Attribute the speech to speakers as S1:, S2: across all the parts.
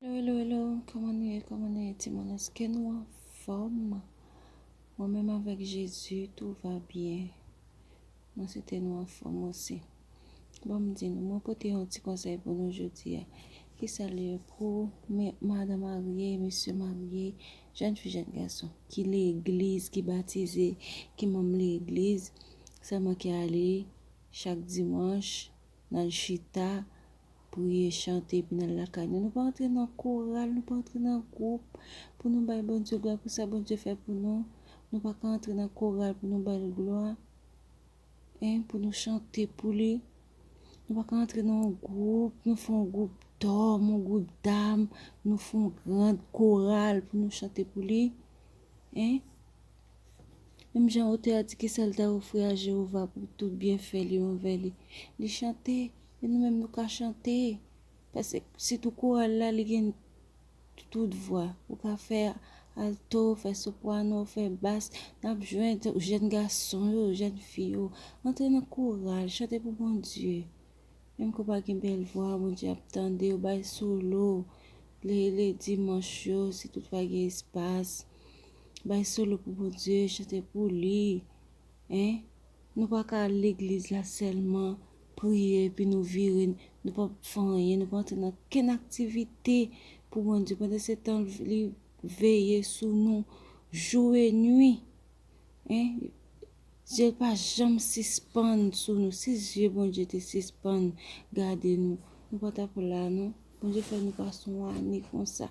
S1: Hello hello hello kòman nou ye kòman nou ye timoun eske nou anfòm mwen menm avèk Jezi tou va byen mwen swete nou anfòm osi bon m di nou mwen pote yon ti konsèy pou nou jodi a ki sa l ye pou mè madan marye mesye marye jèn fi jèn gason ki legliz ki batize ki manm legliz sèlman ki ale chak dimanch Nal chita, priye, chante epi nal lakay nou. Nou pa antre nan koral, nou pa antre nan gwoup pou nou bay Bondye glwa pou sa Bondye fè pou nou. Nou pa ka antre nan koral pou nou bal glwa. Hein, pou nou chante pou li. Nou pa ka antre nan yon gwoup, nou fè yon gwoup dòm, yon gwoup dam, nou fè yon grand koral pou nou chante pou li. Hein. Menm jan otè a di ki sa l ta ofri a Jewova pou tout byenfè li anvè li, li chante e nou menm nou ka chante. Pase sitou koral la li gen tout vwa. Ou ka fè alto, fè soprano, fè bas. N ap jwenn jèn gason yo, jèn fi yo antre nan koral, chante pou Bondye. Menm ke w pa gen bèl vwa, Bondye ap tande w. Bay solo le dimanch yo si toutfwa gen espas. Bay solo pou Bondye, chante pou li. Hein? Nou pa ka al legliz la sèlman, priye epi nou vire, nou pa fè anyen, nou pa antre nan kenn aktivite pou Bondye pandan se tan li veye sou nou jou e nwi. Hein? Zye l pa janm sispann sou nou. Si zye Bondye te sispann gade nou, nou pa tap la non. Bondye fè nou pase yon ane konsa.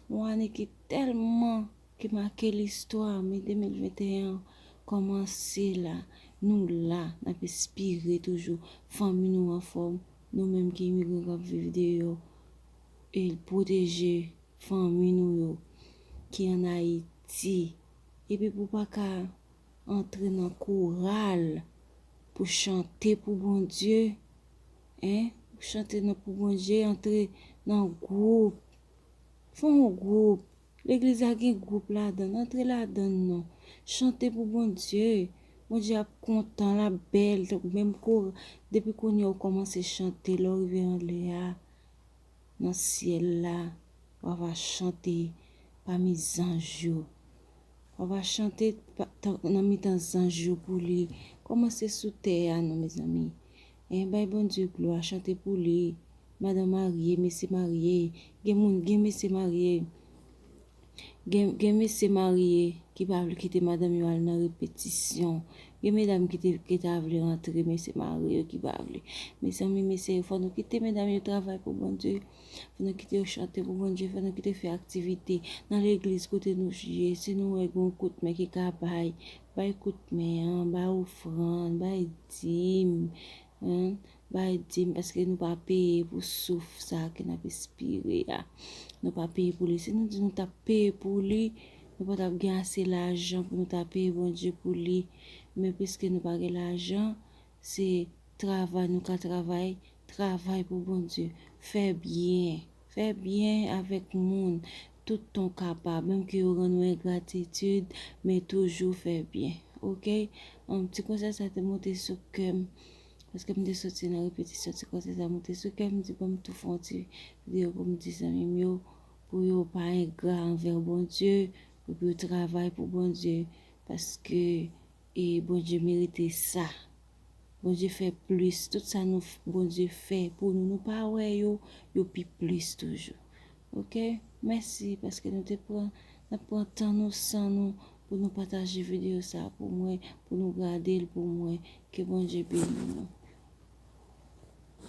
S1: Yon ane ki tèlman ki make listwa me 2021 an kòmanse la nou la nap espire toujou fanmi nou anfòm nou menm ki imigran kap viv deyò e l pwoteje fanmi nou yo ki an ayiti epi pou pa ka antre nan koral pou chante pou bondye hein pou chante nan pou bondye antre nan gwoup. Fon yon group, legliz la gen group ladann antre ladann non, chante pou Bondye, Bondye ap kontan lap bèl tankou menm koral depi kounyè ou kòmanse chante lèw rive anlè a nan syèl la wa va chante pami zanj yo wa va chante nan mitan zanj yo pou li kòmanse sou tè a non mezanmi Hein bay Bondye glwa chante pou li madan marye mesye marye gen moun gen mesye marye gen gen mesye marye ki pa vle kite madanm yo al nan repetisyon gen medam ki te ki ta vle rantre mesye marye yo ki pa vle mezanmi mesye yo fò nou kite medam yo travay pou Bondye fò nou kite yo chante pou Bondye fò nou kite fè aktivite nan legliz kote nou ye si nou wè gen yon kout men ki ka bay Bay kout men an, bay ofrann, bay dim an, bay dim paske nou pa peye pou souf sa a ke n ap espire a. Nou pa peye pou li. Si nou di nou t ap peye pou li, nou pa t ap gen ase lajan pou nou ta peye Bondye pou li. Men piske nou pa gen lajan, se travay nou ka travay, travay pou Bondye, fè byen. Fè byen avèk moun tout tan w kapab, menm ke yo rann ou engratitid, men toujou fè byen. Ok? Humm, ti konsèy sa te monte sou kè m, paske m te soti nan repetisyon, ti konsèy sa monte sou kè m, m di bon m tou fè yon ti video pou m di zanmi m yo, pou yo pa engra anvè Bondye, epi yo travay pou Bondye, paske. E Bondye merite sa. Bondye fè plis tout sa nou Bondye fè pou nou nou pa wè yo yo pi plis toujou ok mèsi paske nou te pran nap pran tan nou san nou pou nou pataje video sa pou mwen pou nou gadel pou mwen ke Bondye beni nou.